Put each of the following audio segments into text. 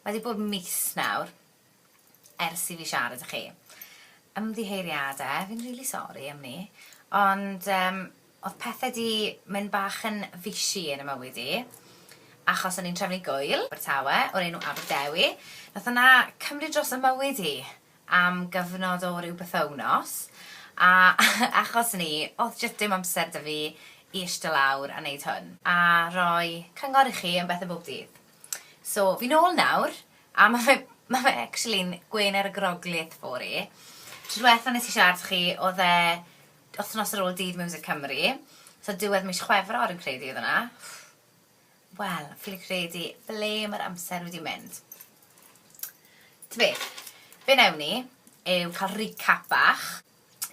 wedi bod mis nawr ers i fi siarad â chi. Ymddiheiriadau, fi'n rili sori am 'ny, ond yym Oedd pethe 'di mynd bach yn fishy yn 'y mywyd i, achos o'n i'n trefnu gŵyl, Abertawe, o'r enw Aberdewi. Nath hwnna cymryd dros 'y mywyd i am gyfnod o ryw bythownos, a achos 'ny, oedd jyst dim amser 'da fi i ishte lawr a neud hwn, a roi cyngor i chi am bethe bob dydd. So, fi nôl nawr, a ma' fe, ma' fe actually'n gwên ar y groglith 'fo i. Tro dwetha nes i siarad 'da chi, oedd e Wythnos ar ôl Dydd Miwsig Cymru, so diwedd mis Chwefror yn credu oedd hwnna. Wel, ffili credu ble mae'r amser wedi mynd. Ta beth, be newn ni yw cael recap bach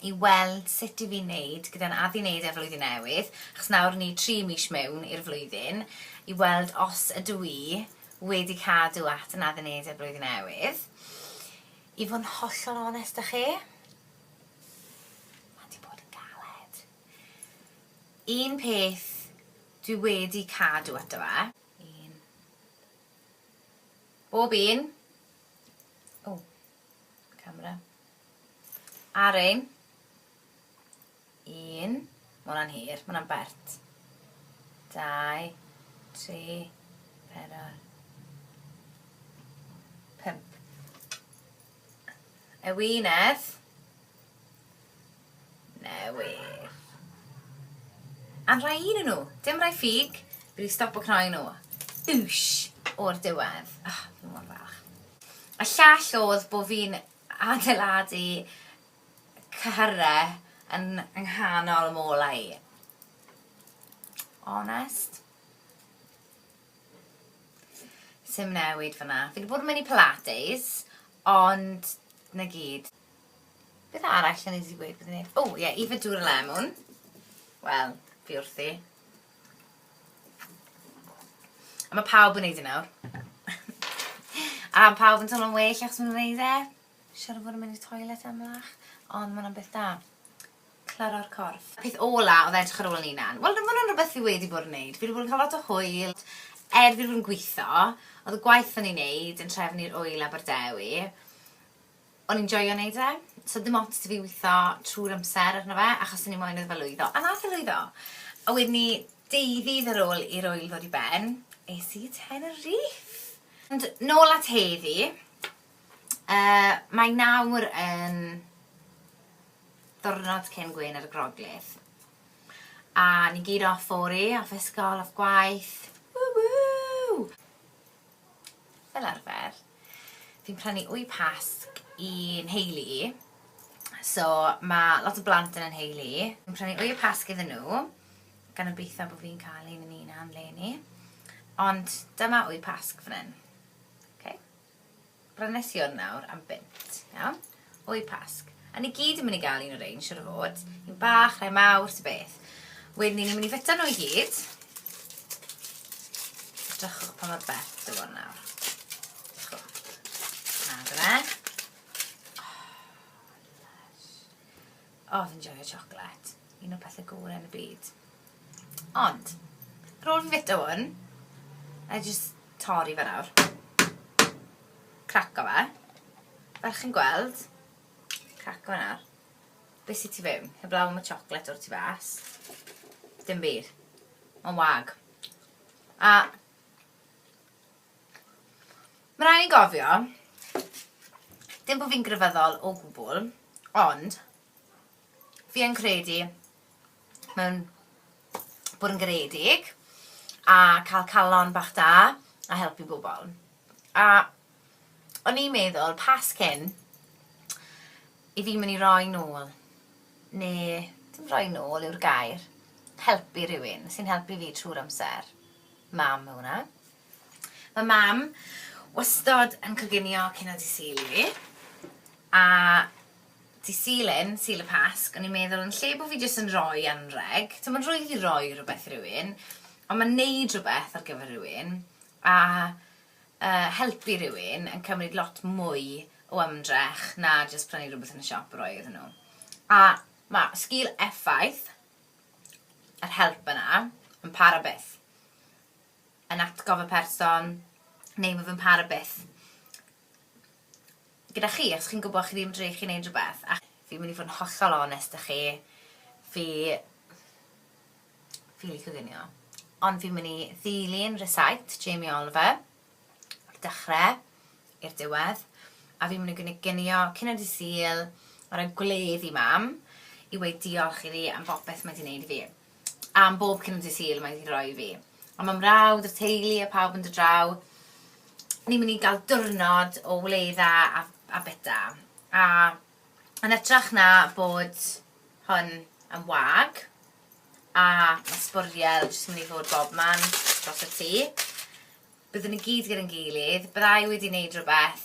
i weld sut i fi wneud gyda'n addi wneud e flwyddyn newydd, achos nawr ni tri mis mewn i'r flwyddyn, i weld os ydw i wedi cadw at yn addi wneud e blwyddyn newydd. I fod yn hollol onest â chi, Mae 'di bod yn galed. Un peth dwi wedi cadw ato fe. Un. Bob un. O, camera. Ar ein. 1, ma' hwnna'n hir, ma' hwnna'n bert. 2, 3, 4, 5. Ewinedd. Newydd. Am rhai un yn nhw. Dim rhai ffug. Fi wedi stop o cnoi nhw. Wsh! O'r diwedd. Oh, fi mor falch. A llall oedd bod fi'n adeiladu Cyhyrre yn nghanol y molau. Honest. Sim newid fyna. Fi wedi bod yn mynd i Pilates, ond na gyd. Beth arall yn easy gweud bod yn neud? O, oh, ie, yeah, Eva Dŵr y Lemwn. Wel, fi wrthi. A mae pawb yn neud e nawr. A pawb yn teimlo'n well achos maen nhw'n neud e. Siŵr o fod yn mynd i'r toilet ymlach, ond ma' hwnna'n beth da. Claro'r corff. Peth ola oedd edrych ar ôl yn hunan. Wel ma' hwnna'n rhywbeth fi wedi bod yn neud. Fi wedi bod yn cael lot o hwyl. Er fi wedi bod yn gwitho, oedd y gwaith o'n i'n neud yn trefn i'r ŵyl Aberdewi, o'n i'n joio neud e. So oedd dim ots 'da fi witho trwy'r amser arno fe, achos o'n i moyn iddo fe lwyddo. A nath e lwyddo! A wedyn 'ny, deu ddydd ar ôl i'r ŵyl ddod i ben, es i i Tenerife! Ond nôl at heddi. Yy, mae nawr yn ddiwrnod cyn gwên ar y groglith. A ni gyd off fori, off ysgol, off gwaith. Woo woo! Fel arfer, fi'n prynu wy pasg i'n heulu i. So, mae lot o blant yn yn heulu i. Fi'n prynu wy pasg iddyn nhw, gan obeithio bod fi'n cael un yn un am leni. Ond dyma wy pasg fan hyn. Okay. Brynesion nawr am bunt, iawn? O'u Pasg. A ni gyd yn mynd i gael un o rein, siwr o fod. Un bach, rhai mawr, ta beth. Wedyn ni, ni'n mynd i fita nhw i gyd. Drychwch pa mor bell dy fod nawr. Na, dyna. Oh, oh, fi'n joio chocolate. Un o pethau gore yn y byd. Ond, ar ôl fi fita hwn, na i jyst torri fe nawr. Craco fe. Fel chi'n gweld, craco fe nawr. Be sy tu fewn? Heblaw am y chocolate o'r tu fas. Dim byd. Mae'n wag. A... Mae rhaid i gofio, dim bod fi'n grefyddol o gwbl, ond Fi yn credu mewn bod yn garedig a cael calon bach da a helpu bobl. A o'n i'n meddwl, pas cyn, i fi mynd i roi nôl, neu dim roi nôl yw'r gair, helpu rhywun sy'n helpu fi trwy'r amser. Mam yw hwnna. Mae mam wastod yn coginio cyn o dydd Sul i fi, a Dydd Sul yn, Sul y Pasg, o'n i'n meddwl yn lle bod fi jyst yn rhoi anrheg, timod rwyf i roi rhywbeth i rywun, ond mae wneud rhywbeth ar gyfer rhywun a uh, helpu rhywun yn cymryd lot mwy o ymdrech na jyst prynu rhywbeth yn y siop roi iddyn nhw. A mae sgil effaith yr help yna yn para byth. Yn atgof y person, neu mae fe'n para byth. gyda chi achos chi'n gwybod chi ddim yn drych i wneud rhywbeth a fi'n mynd i fod yn hollol onest da chi fi fi licio ginio ond fi'n mynd i ddilyn rhysait Jamie Oliver o'r dechrau i'r diwedd a fi'n mynd i ginio cyn y disil ar y gwledd i mam i weid diolch i fi am bopeth mae di wneud i fi. am bob cyn dydd Sul mae hi'n rhoi i fi. A mae mrawd y teulu a pawb yn dod draw. Ni'n mynd i gael diwrnod o wleidda a, a bita. A yn ytrach na bod hwn yn wag, a mae sbwriel jyst mynd i fod bob man dros y tŷ, byddwn ni gyd gyda'n gilydd, byddai wedi wneud rhywbeth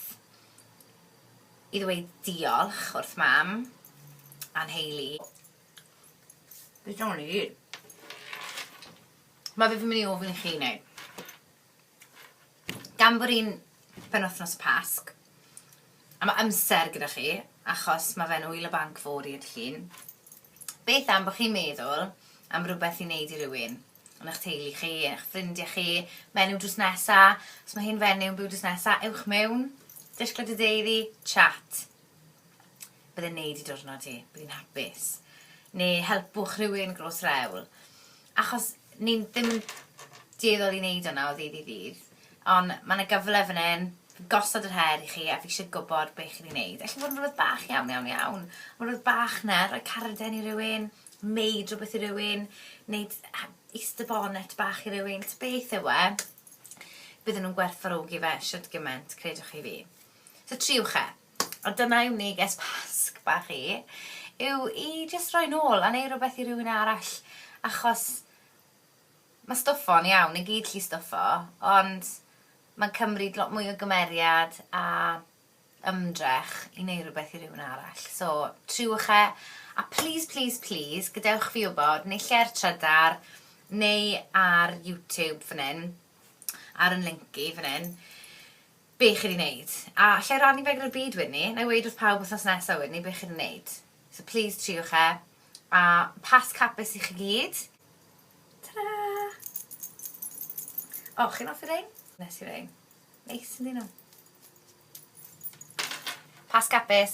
i ddweud diolch wrth mam a'n heili. Beth o'n i? Mae fe fy mynd i ofyn i chi wneud. Gan bod i'n penwthnos pasg, a mae amser gyda chi, achos mae fe'n wyl y banc fod i ydych chi'n, beth am bod chi'n meddwl am rhywbeth i wneud i rywun? Yn eich teulu chi, yn eich ffrindiau chi, menyw drws nesa, os mae hi'n fenyw yn byw drws nesa, ewch mewn, disgled y deiri, chat. Byddai'n neud i diwrnod ti. Bydd hi'n hapus. Neu helpwch rhywun gros rewl. Achos ni'n ddim yn dueddol i wneud hwnna o ddydd i ddydd. Ond mae yna gyfle fan hyn, gosod yr her i chi a fi eisiau gwybod beth chi'n ei wneud. Alla fod yn rhywbeth bach iawn, iawn, iawn. Ond rhywbeth bach na, rhoi carden i rywun, wneud rhywbeth i rywun, wneud easter bonnet bach i rywun. Beth yw e? Bydden nhw'n gwerthfarogi fe siwt gymaint, credwch chi fi. So triwch e. A dyna yw neges Pasg bach i, yw i jyst roi nôl a neu' rwbeth i rywun arall achos ma' stwffo yn iawn, ni gyd gallu stwffo, ond ma'n cymryd lot mwy o gymeriad a ymdrech i neu' rwbeth i rywun arall. So triwch e, a plîs plîs plîs gadewch fi wbod neu lle ar Trydar neu ar YouTube fan 'yn ar 'yn linc i fan 'yn Be chi'n ei wneud? A allai rannu fe gyda'r byd wedyn 'ny? Wna i weud wrth pawb wythnos nesa wedyn 'ny be chi'n ei wneud. So plîs triwch e. A Pasg hapus i chi gyd. Ta-ra! O, chi'n hoffi rhein? Wnes i rhein. Neis ynddyn nhw? Pasg hapus!